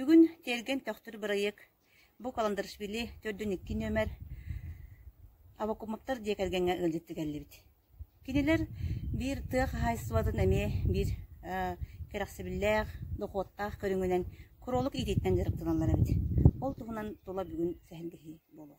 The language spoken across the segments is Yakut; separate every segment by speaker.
Speaker 1: Бүгүн «Тиэргэн төхтүр» бырайыак бу Каландаришвили төрдүн икки нүөмэр Авакумовтар дьиэ кэргэҥҥэ ыалдьыт тигиллибит. Кинилэр биир тыа хаһаайыстыбатын эмиэ биир кэрэхсэбиллээх, дохуоттаах көрүҥүнэн куруолук иитииттэн дьарыктаналлар эбит. Ол туһунан тула бүгүн сэһэргэһии буолуо.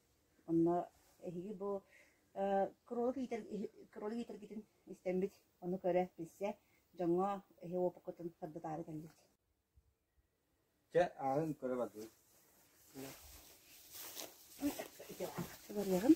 Speaker 1: Онно эһиги бу э, кролик иитэр, кролик иитэргитин истэммит, ону көрө билсэ, дьоҥҥо эһи уопуккутун подбытаары кэлбит.
Speaker 2: Чэ, ааҕын көрө бардыбыт. Итиэҕэ
Speaker 1: барыаҕын.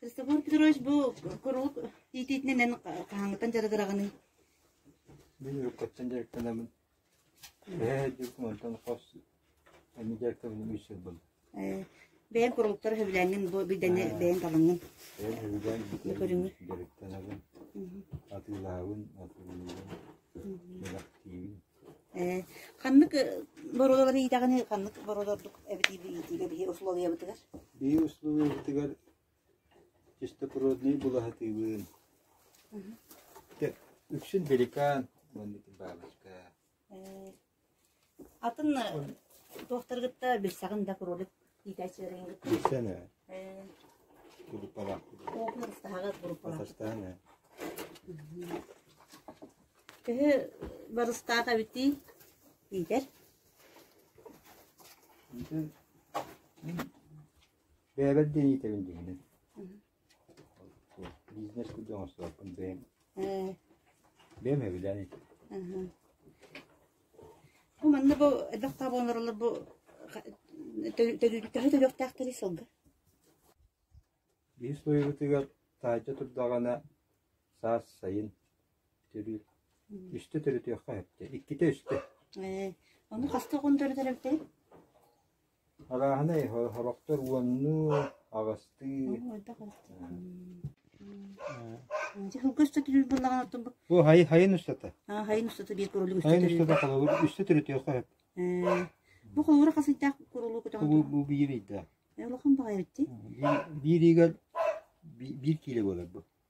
Speaker 1: Кыыстабыар Петрович бу курулук иитиитинэн эн хаһааҥҥыттан дьарыгыраҕыный?
Speaker 2: Мин уруккуттан дьарыктанабын Ээ, дьыл мантан хос аны дьаактабынан үс сыл буолла. Ээ, бэйэм
Speaker 1: курууктар сөбүлээннин бу бидэнэ бэйэҥ талаҥҥын. Бэйэм сөбүлээн
Speaker 2: бүтэрбин
Speaker 1: дьарыктанабын,
Speaker 2: атыылаабын, атыылыыбын, бэлэхтиибин. Ээ,
Speaker 1: ханнык боруодалары иитэҕиний, ханнык боруодалардык эбитий бу иитиигэ биһи услуобуйабытыгар? Биһи
Speaker 2: услуобуйабытыгар Чистопороднай булаһатыыбын. Үксүн пеликан уонна бабочка.
Speaker 1: Атын туохтары кытта билсэҕин да кролик иитээччилэриҥ Билсэн ээ.
Speaker 2: Кулупалаах. Оопун ыстаһаҕар
Speaker 1: бурупалаах. Бастаан ээ.
Speaker 2: Төһө
Speaker 1: барыстаах эбитий иитэр?
Speaker 2: Бэйэбэр диэн иитэбин дьиҥинэн. Бизнес курдук оҥостубаппын бэйэм. Э. Бэйэм эбилээн иитим.
Speaker 1: Бу манна бу элбэх таа буоларылар бу төһө төлөхтөөх төлүй сылга?
Speaker 2: Биир суруйуутугар таайда турдаҕына саас сайын төрүүр. Үстэ төрүтүөххэ эптэ. Иккитэ үстэ. Э. Ону
Speaker 1: хаста он төрүтэр эптей?
Speaker 2: Арааһынай, сорохтор уоннуу, аҕыстыы Бу хайын
Speaker 1: хайын устата? Аа, хайын устата биир курулук Хайын устата устата холобур үстэ
Speaker 2: төрүтүөххө сөп. Э, бу
Speaker 1: холобура хас ыйдаах курулук көтөҕөн Бу бу биир ыйда.
Speaker 2: Э, улахан баҕайы эти.
Speaker 1: Биир биир ыйга
Speaker 2: би- биир киилэ буолар бу.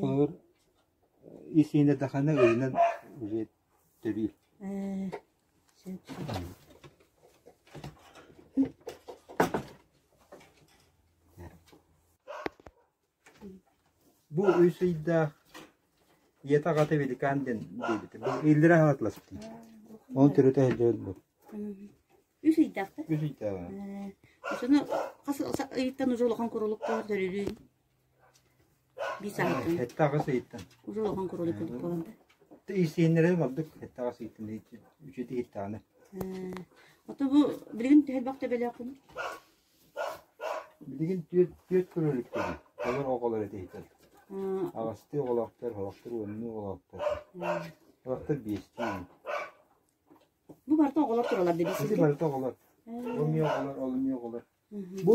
Speaker 2: Холобур, ис-иһинэ даҕаны ыйынан төрүү Бу үс ыйдаах ийэтэ аҕата Великан диэн диэбитэ. Бу иллэрэ аһатыласпытын. Onun төрөтө өйдөбүл бу. Үс
Speaker 1: ыйдаахта? Үс
Speaker 2: ыйдааҕа. Соны
Speaker 1: хас ыйыттан уже улахан курулук көрүлүүн. Эттэҕэ
Speaker 2: сыыйтан.
Speaker 1: Иирсиэннэрэ
Speaker 2: ордук эттэҕэ сыыйтан үчүгэй иһиттэҕинэ.
Speaker 1: Ото бу билигин төһө элбэх төбөлөөх күн? Билигин
Speaker 2: түөрт түөрт кура өлүктэр. Олор оҕолор этэ иһитэр. Аҕастыы оҕолоохтор, оҕолоохтор уоннуу оҕолоохтор. Оҕолоохтор биэстии.
Speaker 1: Бу барыта оҕолор туралар дии. Ити барыта оҕолор.
Speaker 2: Ол эмиэ оҕолор, ол эмиэ оҕолор. Бу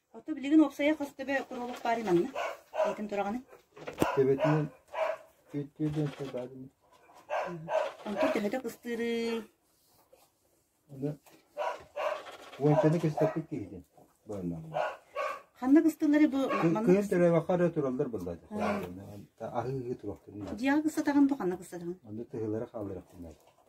Speaker 1: Оттон билигин уопсайа хос төбө куруолук баарый манна? Эйэтин тураҕыный? Төбөтүн
Speaker 2: өттүөдэн сабаадым.
Speaker 1: Онтон төһөтө кыстыырый?
Speaker 2: Аны уончаны кыстаппыт киһитин быаннааллар. Ханна
Speaker 1: кыстыыллары бу манна Кыйын төлөбөххө эрэ тураллар
Speaker 2: былла. Аһыы туруохтун. Дьиэҕэ кыстатаҕын бу
Speaker 1: ханна кыстатаҕын? Аны тыһылары хаалларахтын.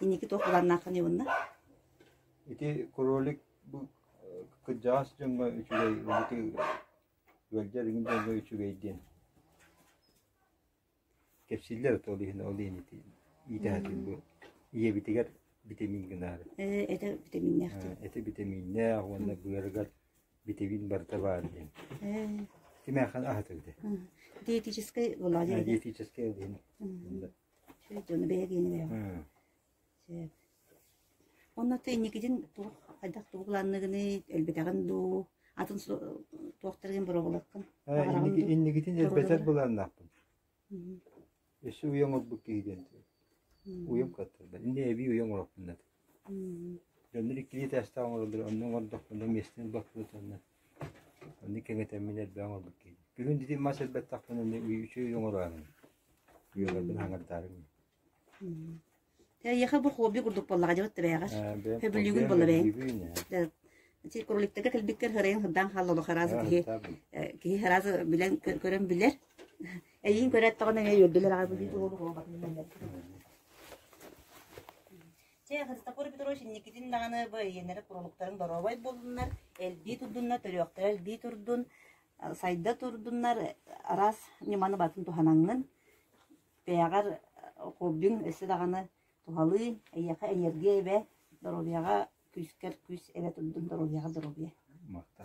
Speaker 1: Инники туох былааннааххын ылынна? Ити
Speaker 2: кролик бу кырдьаҕас дьоҥҥо үчүгэй, быһыты ыалдьар иҥин дьоҥҥо үчүгэй диэн кэпсииллэр от ол иһин ол иһин ити иитээтин бу ийэбитигэр битэмиин гынаары. Ээ, этэ
Speaker 1: битэмииннээхтин. Эти битэмииннээх
Speaker 2: уонна быарыгар битэмиин барыта баар диэн. Ээ. Кимээхэн аһатыгыты? Диетическай
Speaker 1: булаалар. Диетическай диэн. дьону бэйэ гиэни бэйэҕэ. Онно ты инникитин туох хайдах тугу планныгыный, өлбүтэҕин дуу, атын туохтаргын боробулаккын? Инникитин
Speaker 2: элбэтэр былааннаахпын. Өссө уйан орбут киһи диэн. Уйам каттарда. Инде эби уйан ороппуннат. Дьоннор иккилии этээстээх оҥороллор, онно оҥордохпуна миэстэ ылбат буолатаҕына, оннук кэҥэтэммин элбэҕи оҥорбут киһибин. Бүгүн итин мас элбэтэхпинэ эмиэ үчүгэй оҥорооһун үөҕэрбин аҥардаарым мин.
Speaker 1: Эйиэхэ бу хобби курдук буоллаҕа дьэ да бэйэҕэр. Хөбүлүүгүн буолла бэйэҥ. Ити кроликтарга кэлбиккэр сырайан сырдаан хаалла олох араазы киһи киһи араазы билэн көрөн билэр. Эйиин көрө эттэҕинэ эҥэ үөрдүлэр аҕай бу дии олох оҕо батын мэннэр. Чэ, Христофор Петрович инникитин даҕаны бу эйиэннэрэ курулуктарын доруобай булуннар, элбии турдуннар, төрүөхтэрэ элбии турдун, сайда турдуннар, араас ньыманы батын туһанаҥҥын. Бэйэҕэр хоббиҥ өссө даҕаны туһалыы, эйиэхэ энергия эбэ, доруобуйаҕа күүскэр күүс эрэ
Speaker 2: турдун,
Speaker 1: доруобуйаҕа доруобуйа. Махта.